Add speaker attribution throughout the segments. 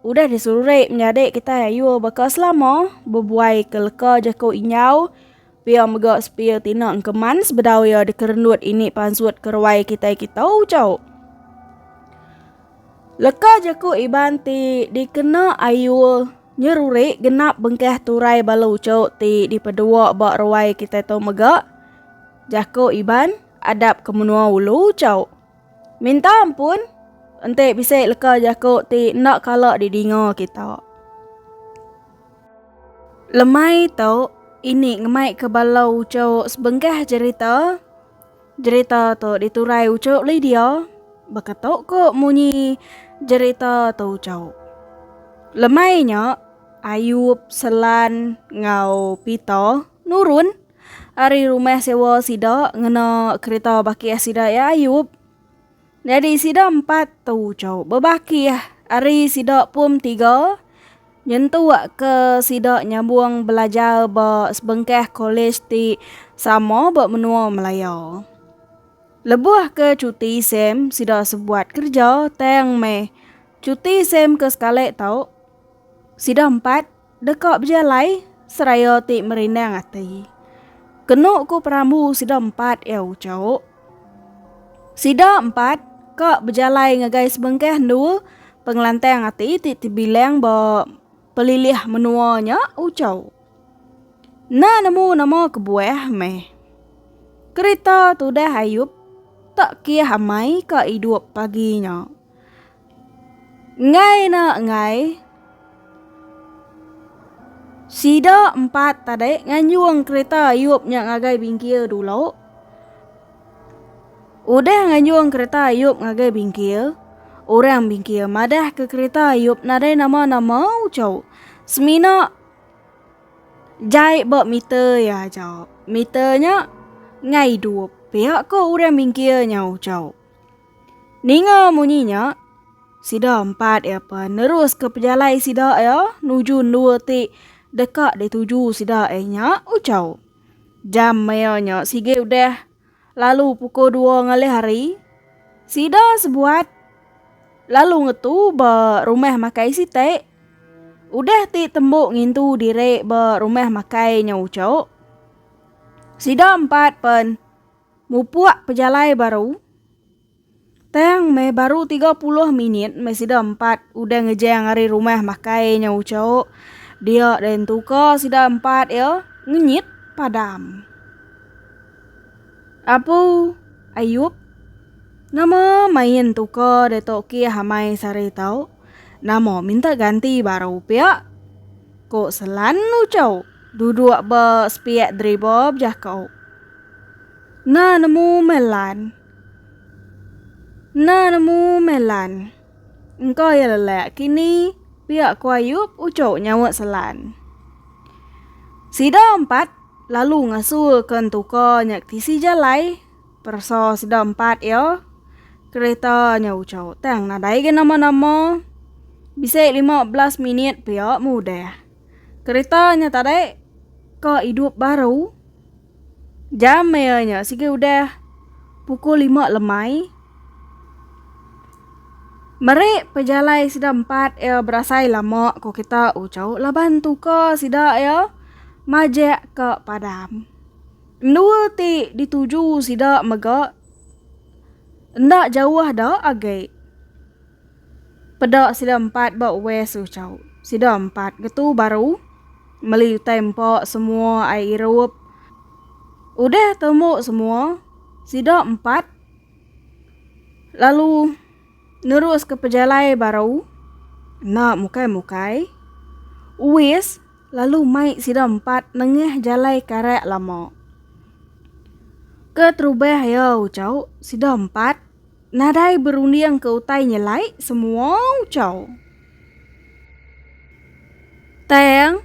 Speaker 1: Udah diserurik menyadi kitai ayu baka selama, bebuai ke leka jaku Inyau, pia mega sepia tina engkeman sebedau iya dikerendut ini pansut ke ruai kitai kita ucau. Leka jaku Iban ti dikena ayu nyerurik genap bengkah turai bala ucau ti dipedua ba ruai kitai tu mega, jaku Iban, adap ke menua ulu ucau. Minta ampun enti bisi leka jaku ti enda kala didinga kita. Lemai tu ini ngemai ke bala uchu sebengkah jerita. Jerita tu diturai uchu Lydia baka tu ku munyi jerita tu uchu. Lemai nya Ayub, Selan enggau Pita nurun. ari rumah sewa sida ngena kereta bakih sida iya Ayub. Nyadi sida empat tu uco bebakih ari sida pum tiga nyentuk ke sida nyambung belajar ba sebengkah kolej ti sama ba menua Malaya. Lebuh ke cuti sem sida sebuat kerja tang meh cuti sem ke sekali tu sida empat Deka bejalai seraya ti merindang ati. Kenu ku perambu sida empat iya uco. Sida empat ka bejalai ngagai sebengkah endu pengelantang ati ti tebilang ba pelilih menua nya uco. Enda nemu nama kebuah meh. Kerita tudah Ayub tak kiah amai ka idup pagi nya. Enggai ena enggai, sida empat tadi nganjung kereta iup nya ngagai Bingkir dulu. Udah nganjung kereta iup ngagai Bingkir, orang Bingkir madahka kereta iup nadai nama-nama uchu. Semina jai ba meter iya aja. Meter nya enggai idup. Pia ko orang Bingkir nya uchu. Ninga munyi nya, sida empat iya pen neruska pejalai sida iya nuju endua ti deka dituju sida iya nya Uchau. Jam maya nya sigi udah lalu pukul dua ngalih hari. Sida sebuat lalu ngetu ba rumah makai siti. Udah ti tembu ngintu diri ba rumah makai nya Uchau. Sida empat pen Mupuk pejalai baru. Tang meh baru tiga puluh minit meh sida empat udah ngejang ari rumah makai nya uchauk. Dia deh entuka sida empat iya ngenyit padam. Apu, Ayup, nama main entuka deh tu kih amai sehari tauk? Nama minta ganti baru pia? Ko Selan Ucau duduk ba sepiak driba bejako. Enda nemu meh Lan. Enda nemu meh Lan. Engka iya lelak kini pia ko Ayup Ucau nyaut Selan. Sida empat lalu ngasu ke entuka nya ke tisi jalai. Peresa sida empat iya, kereta nya ucau tang nadai ga nama-nama. Bisi lima belas minit pia mudah. Kereta nya tadi ka idup baru. Jam iya nya sigi udah pukul lima lemai. Meri pejalai sida empat iya berasai lama ku kita ucau laban tuka sida iya majak ka padam. Endua ti dituju sida mega enda jauh da agi. Peda sida empat ba West tu chau. Sida empat ngetu baru meli utai empa semua ai irup. Udah temu semua, sida empat lalu neruska pejalai baru enda mukai-mukai. West. Lalu mai sida empat nengah jalai karak lama. Keterubah iya Uchau, sida empat nadai berunding ke utai nyelai semua Uchau. Tang,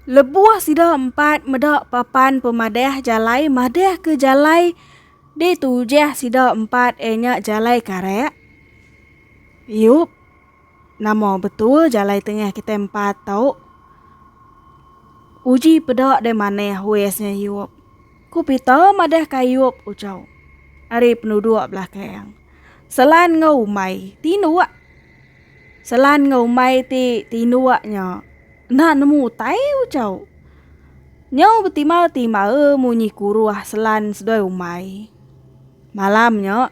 Speaker 1: lebuh sida empat meda papan pemadah jalai madah ke jalai ditujah sida empat iya nya jalai karak, iup. Nama betul jalai tengah kitai empat tu? Uji peda deh manah wes nya Ayub. Ku Peter madahka Ayub ucau ari penuduk belakang. Selan enggau umai tinduk. Selan enggau umai ti tinduk nya enda nemu utai ucau. Nyau betimal-timal munyi kuruh selan seduai umai. Malam nya,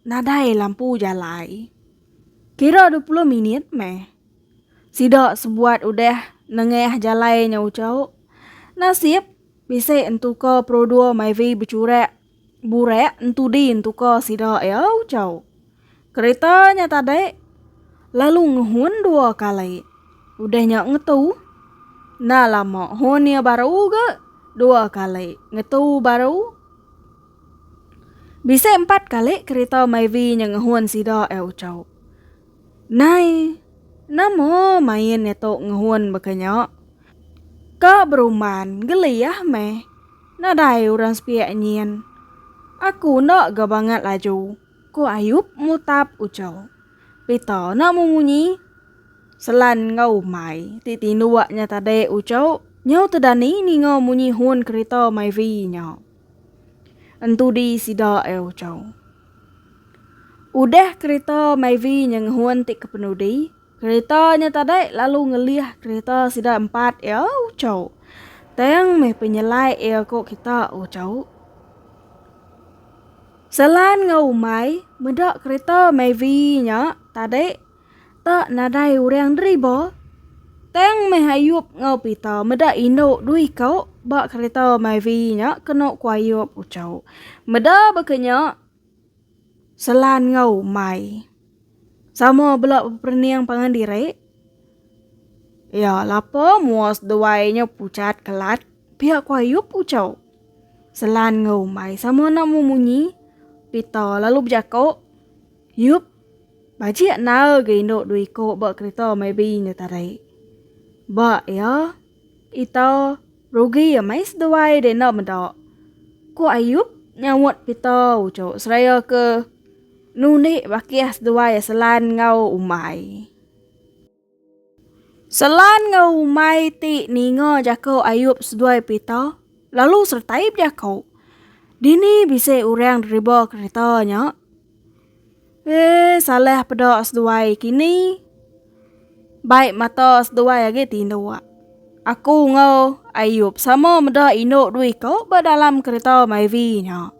Speaker 1: Nadai lampu jalai. Kira dua puluh minit meh. Sida sebuat udah nengah jalai nyau chau. Nasib, bisi entuka perodor Myvi bechurak burak entudi entuka sida iau chau. Kereta nya tadi lalu ngehun dua kali. Udah nya ngetu. Enda lama, hon iya baru ga dua kali. Ngetu baru. Bisi empat kali kerita Myvi nya ngehun sida ai Uchau. Nai, nama main iya tu ngehun baka nya? Ka berumban, geliah meh. Nadai orang sepiak nyin. Aku enda ga bangat laju, ku Ayup mutap Uchau. Pita enda memunyi. Selan enggau umbai ti tinduk nya tadi Uchau nyau tedani ninga munyi hun kerita Myvi nya. Entudi sida ai ucau. Udah kerita Myvi nya ngehun ti kepenudi, kerita nya tadai lalu ngelih kerita sida empat ia ucau. Tang meh penyelai ia ko kita ucau. Selan enggau umai meda kerita Myvi nya tadi Ta nadai urang deri ba. Tang meh Ayup enggau Pita meda indu dui ka ba kereta Myvi nya kenu ku Ayup ucau. Meda baka nya Selan enggau Mai sama bela beperening pangan diri. Ya lapa mua seduai nya pucat kelat pia ku Ayup ucau. Selan enggau Mai sama enda memunyi. Pita lalu bejako. Yup. Bajik nal ga indu dua iko ba kerita maybe nya tadi. Ba iya, ita rugi amai seduai deh enda meda. Ku Ayup nyaut pita uchu seraya ke nundi bakih seduai selan enggau umbai. Selan enggau umai ti ninga jaku Ayub seduai Peter lalu sertai bejaku, Dini bisi orang deriba kereta nya? Eh, salah peda seduai kini. Bai mata seduai agi tinduk. Aku enggau Ayub sama meda indu dua iko ba dalam kereta Myvi nya.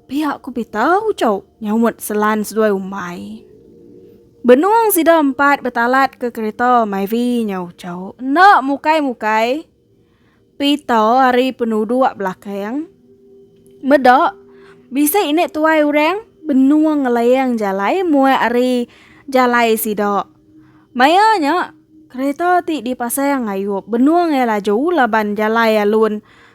Speaker 1: Pia ku Pita ucau nyaumat Selan seduai umbai. Benung sida empat betalat ke kereta Myvi nyau ucau enda mukai-mukai. Pita ari penuduk belakang. Meda bisi inde tuai orang benung ngelayang jalai muat ari jalai sida. Maya nya kereta ti dipasang Ayup benung iya laju laban jalai alun.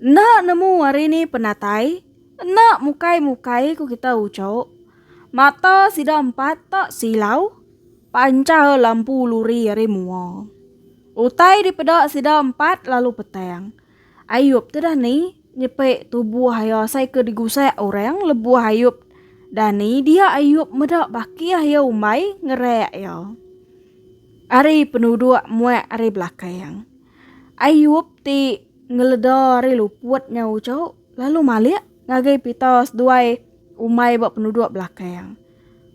Speaker 1: Enda nemu ari ni penatai, enda mukai-mukai ku kita ucok. Mata sida empat tak silau, pancar lampu luri ari mua. Utai dipeda sida empat lalu petang. Ayup tu dah ni, Nyepi tubuh iya asai ke digusak orang lebuh Ayub dani dia Ayub meda bakih iya umbai ngerak iya ari penuduk muak ari belakang. Ayub ti ngeleda ari luput nya ucau lalu malik ngagai pita seduai umbai ba penuduk belakang.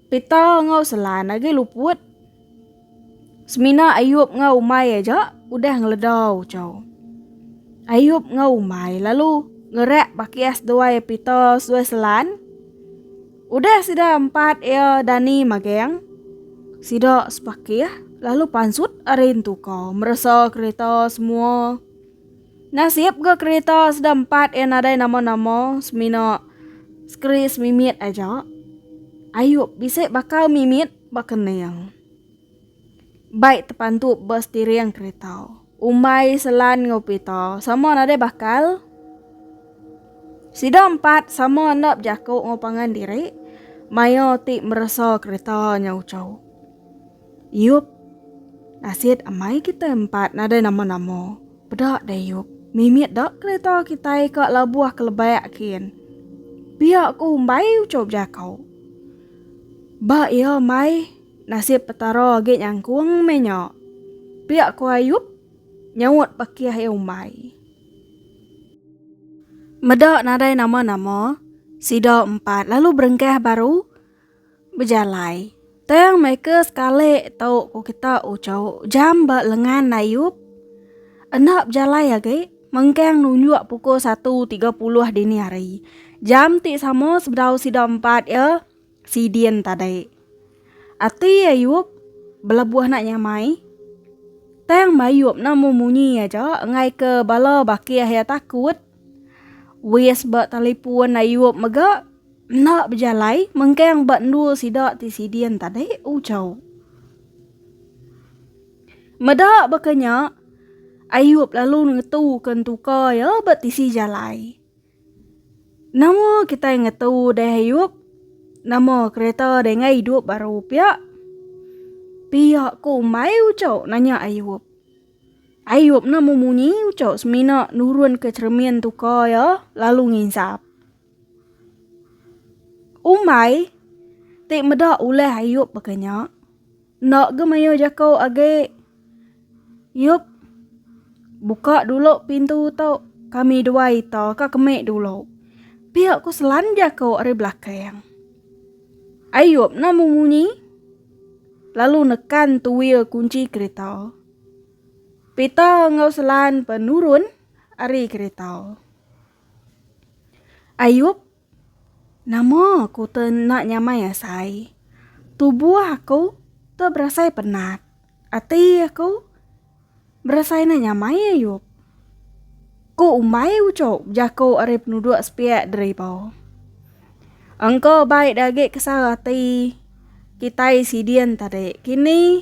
Speaker 1: Pita enggau selan agi luput. Semina Ayub enggau umai aja udah ngeledau chau. Ayub enggau umai lalu ngerak bakis duai Peter seduai Selan. Udah sida empat iya dani magang, sida sepakih lalu pansut ari entu ka meresa kereta semua. Nasib ga kereta sida empat iya nadai nama-nama semina sekeri semimit aja. Ayub bisi bakal mimit Baka ning. Bike tepantu ba setiring kerita. Umbai selan enggau pita sama nadai bakal. Sida empat sama enda bejaku enggau pangan diri maya ti meresa kerita nya uchu. Yup. Nasit amai kitai empat nadai nama-nama. Peda Dayup, mimit da kereta kitai ka labuh ke lebak kin. Pia ku umbai ucup jako. Ba ia mai nasip petara agi nyangkung meh nya. Pia ku Ayup nyaut pakih ia umbai. Meda nadai nama-nama, sida empat lalu berengkah baru. Bejalai. Tang meh ke sekali tu ku kita uchu jam ba lengan Nayup. Enda bejalai agi mengkang nunjuk pukul satu tiga puluh dini hari. Jam ti sama sebedau sida empat iya sidin tadi. Ati Ayup belebuh nak nyamai. Tang Mayup ne mung munyi aja enggai ke bala bakih iya takut. Wis ba telefon Ayup mega. Enda bejalai mengkang ba endur sida ti sidin tadi ucau. Meda baka nya, Ayub lalu ngetuka entuka iya ba tisi jalai. Nama kitai ngetu deh Ayub? Nama kereta denggai idup baru pia? Pia ko umbai ucau nanya Ayub. Ayub nama munyi ucau semina nurunka cheremin entuka iya lalu nginsap. Umbai ti meda ulah Ayub baka nya, enda ga mayuh jako agi. Yub, buka dulu pintu tu kami dua ita ka kemi dulu. Pia ku selan jako ari belakang. Ayub nemu munyi lalu nekan tuil kunci kereta. Pita enggau selan pa nurun ari kereta. Ayub, Nama aku te enda nyamai asai? Tubuh aku te berasai penat. Ati aku berasai enda nyamai, Ayub. Ku umbai uchup jaku ari penuduk sepiak deriba. Engka baik dagi kesal ati kitai sidin tadi. Kini.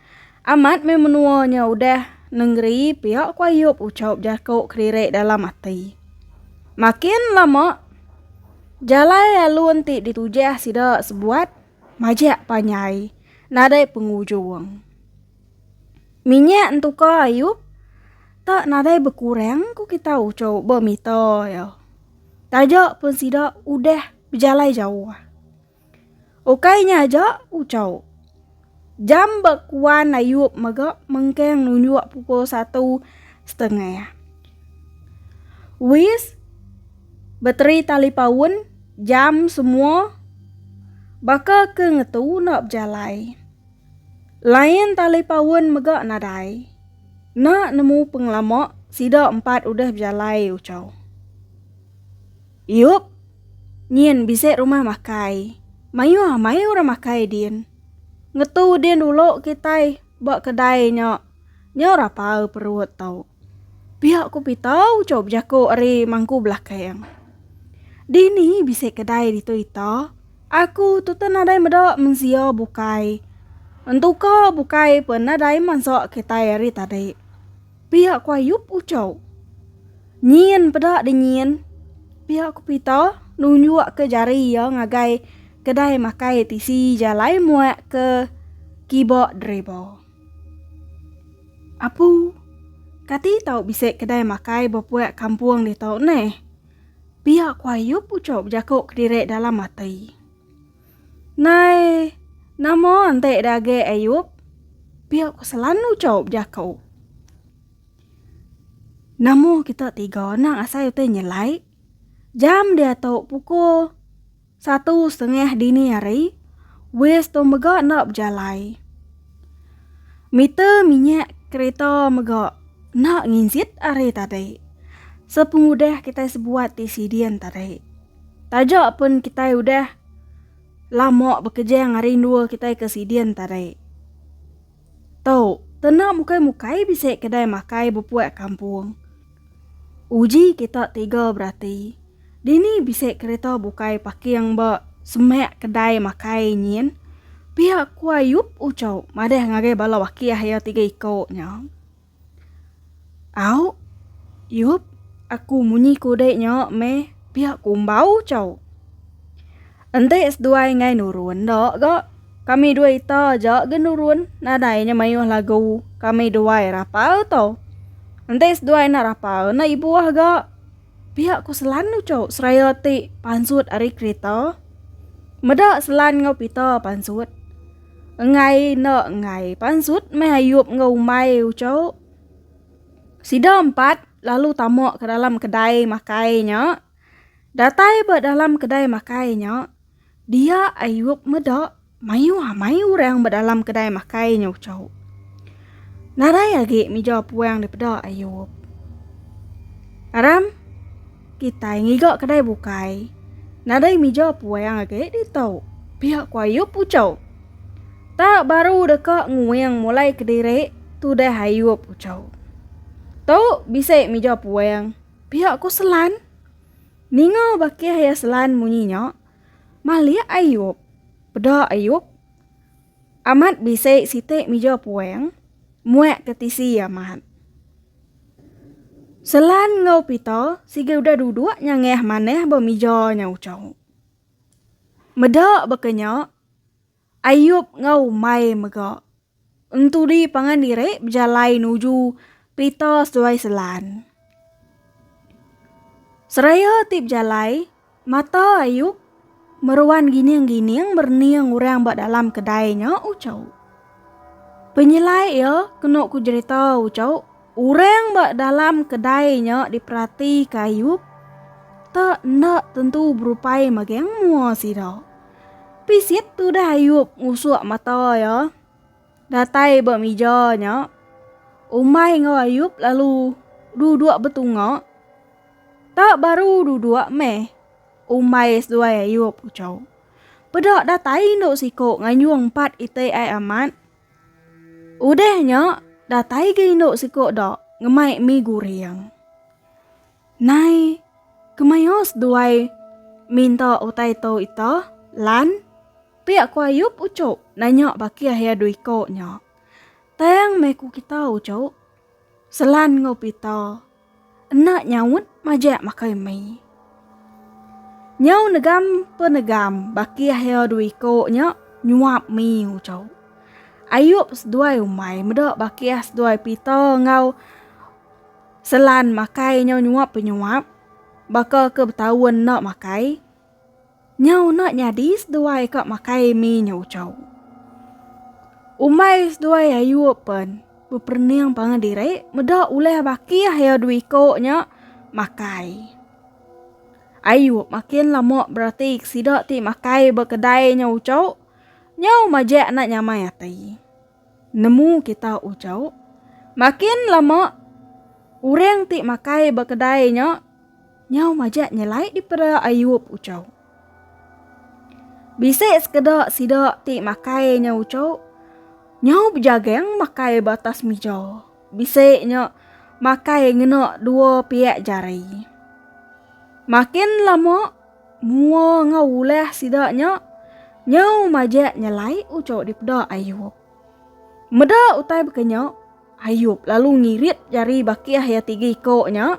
Speaker 1: Amat meh menua nya udah nengeri pia ku Ayub ucau jaku kediri dalam ati. Makin lama jalai alun ti ditujah sida sebuat majak panjai nadai pengujung. Minyak entuka Ayub tak nadai bekurang ku kita ucau bemita iya. Taja pun sida udah bejalai jauh. Ukai nya aja, uchaw jam ba kuan ayup mega mengkang nunjuk pukul satu setengah. Wis bateri talipaun jam semua baka ke ngetu enda bejalai. Lain talipaun mega nadai. Enda nemu pengelama sida empat udah bejalai, uchaw. Iup, nyin bisi rumah makai. Mayuh amai orang makai din. Ngetu din ulu kitai ba kedai nya. Nyau rapal perut tau. Pia ku Pita uchup bejaku ari mangku belakang. Dini bisi kedai ditu ita? Aku tuta nadai meda mensia bukai. Entuka bukai pun nadai mansa kitai ari tadi. Pia ku Ayub ucau. Nyin peda deh nyin. Pia ku Pita nunjuk ke jari iya ngagai kedai makai tisi jalai muak ke kiba Dreba. Apu, kati tau bisi kedai makai bepuak kampung ditu neh? Pia ku Ayub ucau bejako kediri dalam ati. Nai, nama enti dage Ayub? Pia ku selalu chaup jaku. Nama kita tiga nang asai utai nyelai? Jam diatu pukul satu setengah dini hari, waze tu mega enda bejalai. Meter minyak kereta mega enda nginjit ari tadi. Sepengudah kitai sebuat ti sidin tadi. Taja pun kitai udah lama bekejang ari endua kitai ke sidin tadi. Tu, tena mukai-mukai bisi kedai makai bepuak kampung. Uji kita tiga berati, dini bisi kereta bukai paking ba semak kedai makai nyin? Pia ku Ayup uchu madah ngagai bala wakih iya tiga iko nya. Au, yup, aku munyi ku dek nyo meh pia kumbau chau. Enti seduai ngai nurun enda ga, kami dua ita aja ga nurun nadai nya maioh lagu kami duai rapal to. Enti seduai enda rapal enda ibuh ga, pia ku Selan ucau seraya ti pansut ari kerita. Meda Selan enggau Pita pansut. Enggai enda enggai pansut meh Ayup enggau umai ucau. Sida empat lalu tama ke dalam kedai makai nya. Datai ba dalam kedai makai nya, dia Ayup meda mayuh amai orang ba dalam kedai makai nya ucau. Nadai agi mija puang dipeda Ayup. Aram. Kitai ngiga kedai bukai. Nadai mija puang agi ditu. Pia ku Ayup ucau. Tak baru deka nguing mulai kediri, tudah Ayup ucau. Tu bisi mija puang, pia ku Selan. Ninga bakih iya Selan munyi nya, malik Ayup. Peda Ayup, amat bisi siti mija puang, muak ke tisi amat. Selan enggau Pita siga udah duduk nyangah manah ba mija nya ucau. Meda baka nya, Ayup enggau umai mega entudi pangan diri bejalai nuju Pita seduai Selan. Seraya ti bejalai, Mata Ayub meruan gining-gining merening orang ba dalam kedai nya ucau. Penyelai iya kena ku jerita ucau orang ba dalam kedai nya diperati ke Ayub tak enda tentu berupai magang mua sida. Pisit tudah Ayub ngusuk mata iya. Datai ba mija nya, Umai enggau Ayub lalu duduk betunga. Tak baru duduk meh, Umai seduai Ayub ucau. Peda datai indu siko nganjung empat iti ai amat. Udah nya, datai ga indu siko da ngemai mi guring. Nai, kemaioh seduai minta utai tu ita, Lan? Pia ku Ayub ucu nanya baki ahia dua iko nya. Tang meh ku kita ucu, Selan enggau Pita enda nyaut majak makai mi. Nyau negam pe negam baki ahia dua iko nya nyuap mi ucu. Ayub seduai umai meda baki ah seduai Pita enggau. Selan makai nyau nyuap penyuap baka ke betaun enda makai. Nyau enda nyadi seduai ka makai mi nyau ucau. Umbai seduai ayu pen beperening pangan diri meda ulih bakih iya dua iko nya makai. Ayu makin lama berati sida ti makai ba kedai nyau ucau nyau majak enda nyamai ati. Nemu kita ujau. Makin lama urang ti makai ba kedai nya nyau majak nyelai dipera ayup ujau. Bisi sekeda sida ti makai nya ujau nyau bejagang makai ba atas mija. Bisi nya makai ngena dua piak jari. Makin lama Mua enggau ulah sida nya nyau majak nyelai uco dipeda Ayub. Meda utai baka nya, Ayub lalu ngirit jari bakih iya tiga iko nya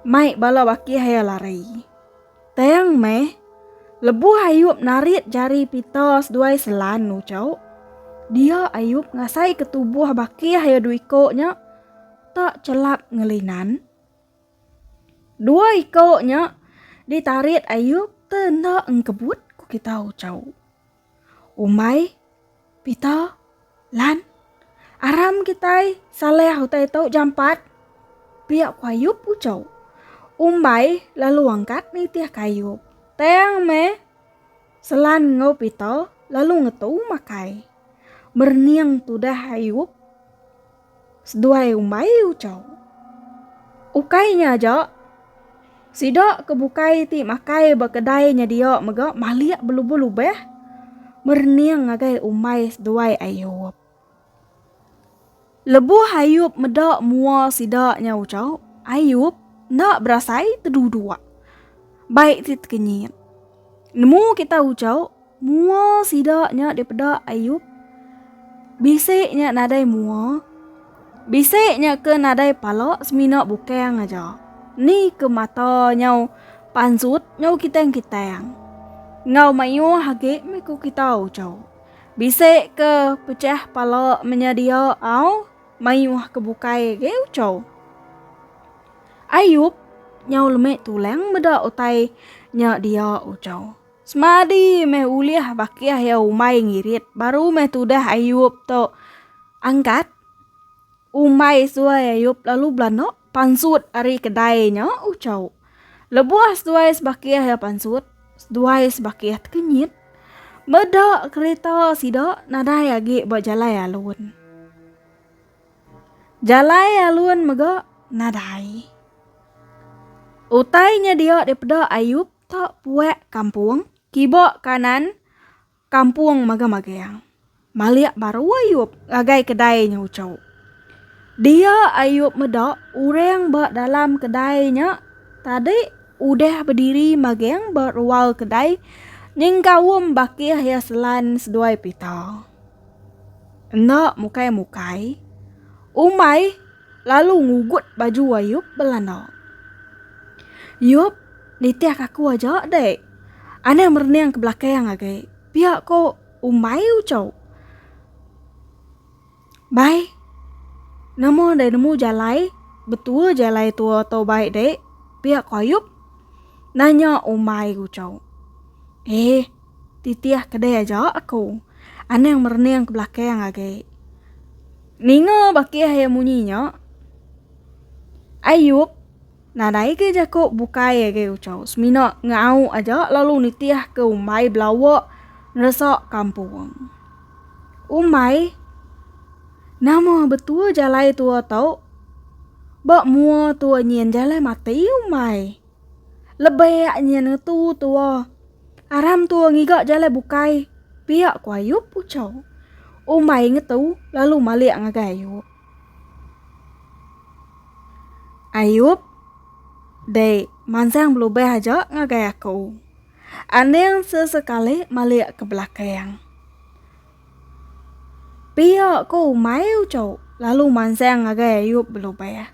Speaker 1: mai bala bakih iya lari. Tang meh, lebuh Ayub narit jari pita seduai selan uco, dia Ayub ngasaika tubuh bakih iya dua iko nya tak chelap ngelinan. Dua iko nya ditarit Ayub te enda engkebut ku kita ucau. Umbai, Pita, Lan, aram kitai Saleh utai tau jampat. Pia ku Ayub ucau. Umbai lalu angkat nitih ke Ayub. Tang meh Selan enggau Pita lalu ngetu makai. Merening tudah Ayub. Seduai umbai Uchau. Ukai nya aja, sida ke bukai ti makai ba kedai nya dia mega malik belubah-lubah merening ngagai umbai seduai Ayup. Lebuh Ayup meda mua sida nya Uchau, Ayup enda berasai teduduk. Bai ti tekenyit. Nemu kita ucau mua sida nya dipeda Ayub? Bisi nya nadai mua. Bisi nya ke nadai pala semina bukang aja. Ni ke mata nyau pansut nyau kitang-kitang. Enggau mayuh agi meh ku kita ucau. Bisi ke pecah pala menyedia au? Mayuh ke bukai agi ucau. Ayub nyau lemek tulang meda utai nya dia ucau. Semadi meh ulih bakih ya umbai ngirit baru meh tudah Ayub tu angkat umbai suai Ayub lalu belanda. Pansut ari kedai nya ucau. Lebuh seduai sebakih iya pansut, seduai sebakih tekenyit. Meda kerita sida nadai agi ba jalai alun. Jalai alun mega nadai. Utai nya dia dipeda Ayub tak puak kampung kiba kanan. Kampung Magang-Magang. Malik baru Ayub ngagai kedai nya uchu. Dia Ayub meda orang ba dalam kedai nya tadi udah bediri magang ba rual kedai nyengkaum bakih iya selan seduai pita. Enda mukai-mukai, umbai lalu ngugut baju Ayub belana. Yub, nitih aku aja deh. Anang merening ke belakang agi, pia ko umbai ucau. Bai, nama deh nemu jalai, betua jalai tu atau bai deh, pia ko Ayub nanya umbai ucau. Eh. Titih kedai aja aku. Anang merening ke belakang agi. Ninga bakih iya munyi nya. Ayup nadai ke jaku bukai agi Uchau semina ngau aja lalu nitih ke umbai belawa neresa kampung. Umbai, nama betua jalai tua tu? Ba mua tua nyin jalai mati umbai. Lebih yak nyin ngetu tua. Aram tua ngiga jalai bukai. Pia ku Ayup ucau. Umai ngetu lalu malik ngagai Ayup. Ayup, dek mansang belubah aja ngagai aku. Aning sesekali malik ke belakang. Pia ku Umai ucau lalu mansang ngagai Ayup belubah.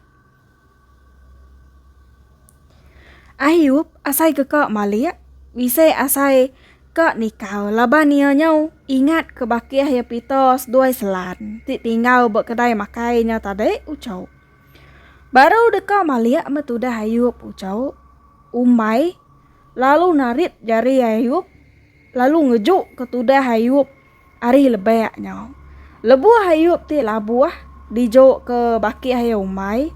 Speaker 1: Ayub asai ke ka malik bisi asai ka nikau laban iya nyau ingat ke bakih iya pita seduai selan ti tinggal ba kedai makai nya tadi uchu. Baru deka malik meh tudah ayub uchu umbai lalu narit jari ayub. lalu ngejuka tudah Ayub ari lebak nya. Lebuh Ayub ti labuh dijuka baki ayau umai,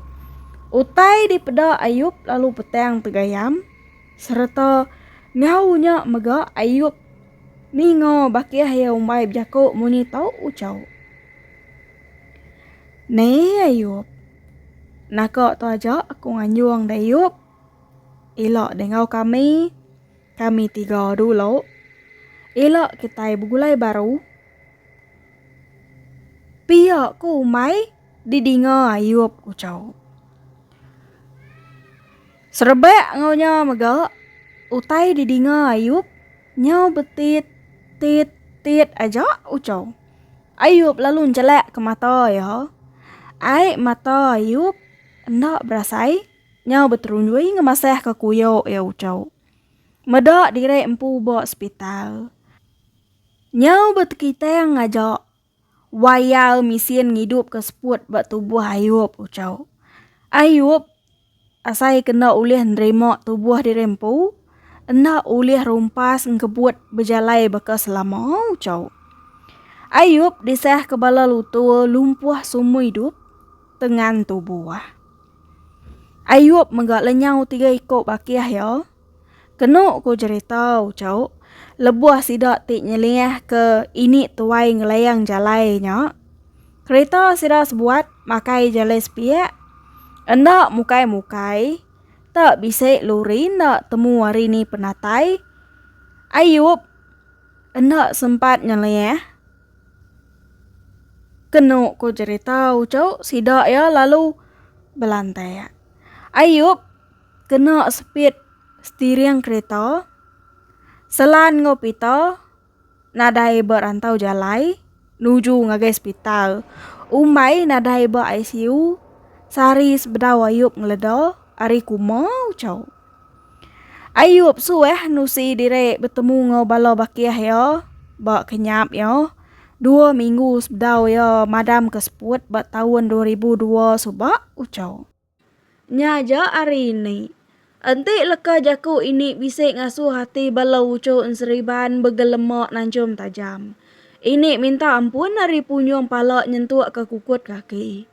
Speaker 1: utai dipeda Ayub lalu petang tegayam sereta enggau nya mega Ayub ninga baki ayau umai bejaku munyi tu uchu. Ni Ayub, naka tu aja aku nganjung da Ayub ila dengau kami. Kami tiga dulu ila kitai begulai baru. Pia ku umai didinga Ayub ucau. Serebak enggau nya mega utai didinga Ayub nyau betit tit tit aja ucau. Ayub lalu njelakka mata iya. Ai mata Ayub enda berasai. Nyau beterunjui ngemasahka kuyo iya ucau. Meda diri empu ba sepital. Nyau betekitang ngaja wire mesin ngidupka seput ba tubuh Ayub ucau. Ayub asai kena ulih nerima tubuh diri empu enda ulih rumpas engkebut bejalai baka selama ucau. Ayub disahka bala lutur lumpuh sumur idup tengan tubuh. Ayub mega lenyau tiga iko bakih iya. Kenu ku jerita uco, lebuh sida ti nyeliah ke ini tuai ngelayang jalai nya, kerita sida sebuat makai jalai sepiak, enda mukai-mukai, te bisi luri enda temu hari ni penatai. Ayub enda sempat nyeliah. Kenu ku jerita uchu sida iya lalu belantak. Ayub kena sepit setiring kerita Selan enggau Pita nadai ba rantau jalai nuju ngagai sepital umbai nadai ba ICU sehari sebedau Ayub ngeleda ari kuma uchu. Ayub suah nusi diri betemu enggau bala bakih iya ba kenyap iya dua minggu sebedau iya madamka seput ba taun dua ribu dua suba uchau. Nya aja ari ini, enti leka jaku ini bisi ngasuh ati bala uchu enseriban begelema nanchum tajam. Ini minta ampun ari punyung pala nyentukka kukut kaki.